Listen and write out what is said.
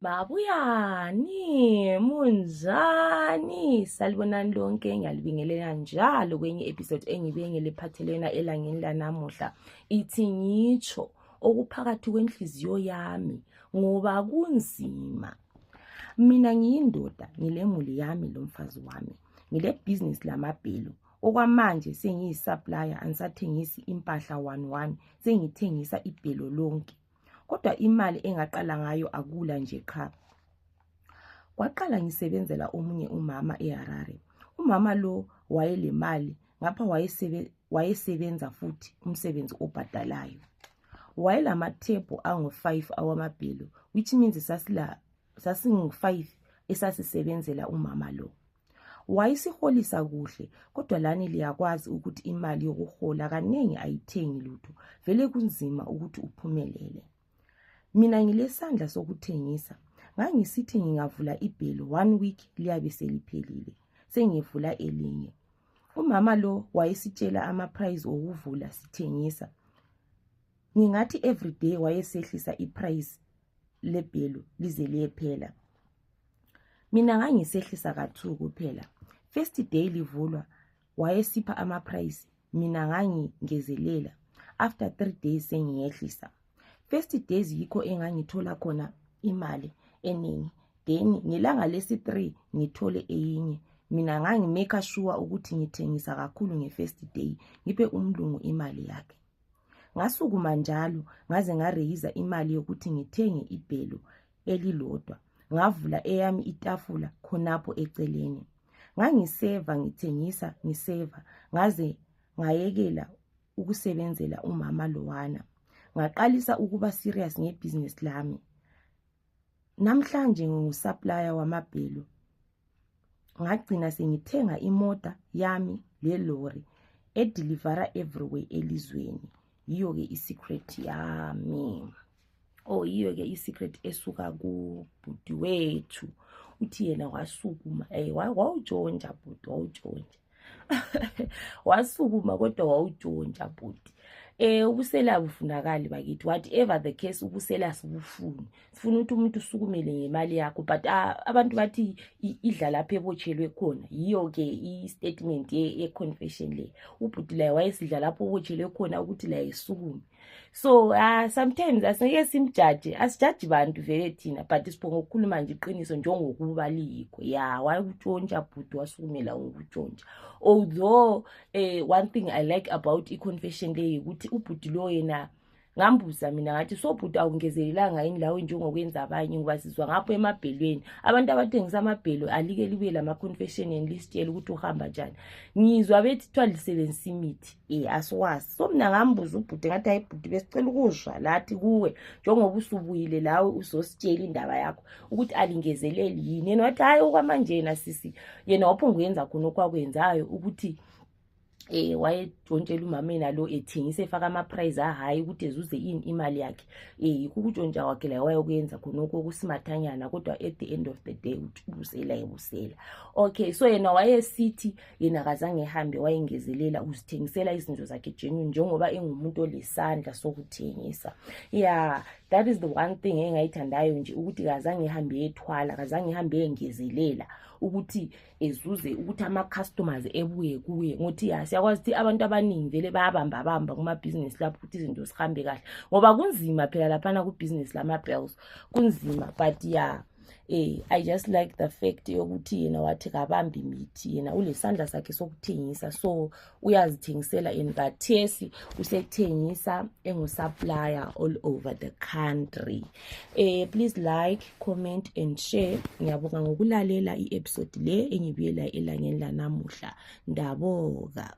Babuyani, munjani, salibonani lonke ngiyalibingelela njalo kwenye episode engibengele phathelena elangeni lanamuhla ithi ngitsho okuphakathi kwenhliziyo yami ngoba kunzima mina ngiyindoda ngilemuli yami lomfazi wami ngilebhizinisi lamabhelu okwamanje sengiyi-supplier angisathengisi impahla one one sengithengisa ibhelo lonke kodwa imali engaqala ngayo akula nje qha kwaqala ngisebenzela omunye umama eharare umama lo wayelemali ngapha wayesebenza futhi umsebenzi obhadalayo wayelamathebhu angu-five awamabhelo which means sasingu-five esasisebenzela umama lo wayisiholisa kuhle kodwa lani liyakwazi ukuthi imali yokuhola kaningi ayithengi lutho vele kunzima ukuthi uphumelele mina ngilesandla sokuthengisa ngangisithi ngingavula ibhelo one week liyabe seliphelile sengivula elinye umama lo wayesitshela amaprize okuvula sithengisa ngingathi everyday wayesehlisa iprize lebhelo lize liyephela mina ngangisehlisa kathu kuphela first day livulwa wayesipha amaprice mina ngangingezelela after three days sengiyehlisa first days yikho engangithola khona imali eningi then ngelanga lesi-three ngithole eyinye mina ngangimeka shuwa ukuthi ngithengisa kakhulu nge-first day ngiphe umlungu imali yakhe ngasukuma njalo ngaze ngareyiza imali yokuthi ngithenge ibhelo elilodwa ngavula eyami itafula khonapho eceleni ngangiseva ngithengisa ngiseva ngaze ngayekela ukusebenzela umama lowana ngaqalisa ukuba serious ngebhizinisi lami namhlanje ngingusupplier wamabhelu ngagcina sengithenga imota yami lelori edilivara everywhere elizweni yiyo-ke isecret yami o oh, yiyo-ke isecret esuka kubhudi wethu uthi yena wasukuma um wawujonja bhudi wawujonja wasukuma kodwa wawudontsha bhuti eh ubusela bufunakali bakithi whatever the case ubusela sibufuni sifuna ukuthi umuntu usukumele ngemali yakho but uh, abantu bathi idla lapho ebotshelwe khona yiyo ke i-statement ye-confession le ubhuti laye wayesidla lapho obotshelwe khona ukuthi laye sukume so uh, sometimes asingeke simjaje asijaji bantu vele thina but siphonga ukukhuluma nje iqiniso njengokuba liyikho ya wayikutshontsha bhuti wasukumela ukutshontsha although eh, one thing i like about i-confession leyi ukuthi ubhuti lo yena ngambuza mina ngathi sobhuti awungezelelanga yini lawo njengokwenza abanye ngoba sizwa ngapho emabhelweni abantu abathengisa amabhelo alike libuye lama-confession and lisitshela ukuthi uhamba njani ngizwa bethi kuthiwa lisebenzisa imithi e asiwazi so mina ngambuza ubhuti ngathi hayi bhuti besicela ukuzwa lathi kuwe njengoba usubuyile lawe uzositshela indaba yakho ukuthi alingezeleli yini yena wathi hhayi okwamanje yena sisi yena waphunguyenza khona okwakwenzayo ukuthi eh wayejontshela umameni alo ethengisa efaka amaprize ahayi ukuthi ezuze ini imali yakhe eh yikho ukutshontsha kwakhe la wayokuyenza khonokho okusimathanyana kodwa at the end of the day uthi ubusela ebusela okay so yena wayesithi yena kazange ehambe wayengezelela ukuzithengisela izinto zakhe genuine njengoba engumuntu olesandla sokuthengisa ya that is the one thing engayithandayo nje ukuthi kazange ehambe yethwala kazange ehambe yengezelela ukuthi ezuze ukuthi ama-customers ebuye kuye ngokuthi ya siyakwazi ukuthi abantu abaningi vele bayabambabamba kumabhizinisi lapho ukuthi izinto zihambe kahle ngoba kunzima phela laphana kubhizinisi lama-bells kunzima but ya yeah. eh i just like the fact yokuthi yena wathi kabambi mithi yena ulesandla sakhe sokuthengisa so uyazithengisela in kathesi usethengisa engusupplier all over the country eh please like comment and share ngiyabonga ngokulalela i-episode le engibuyela elangeni lanamuhla ndaboka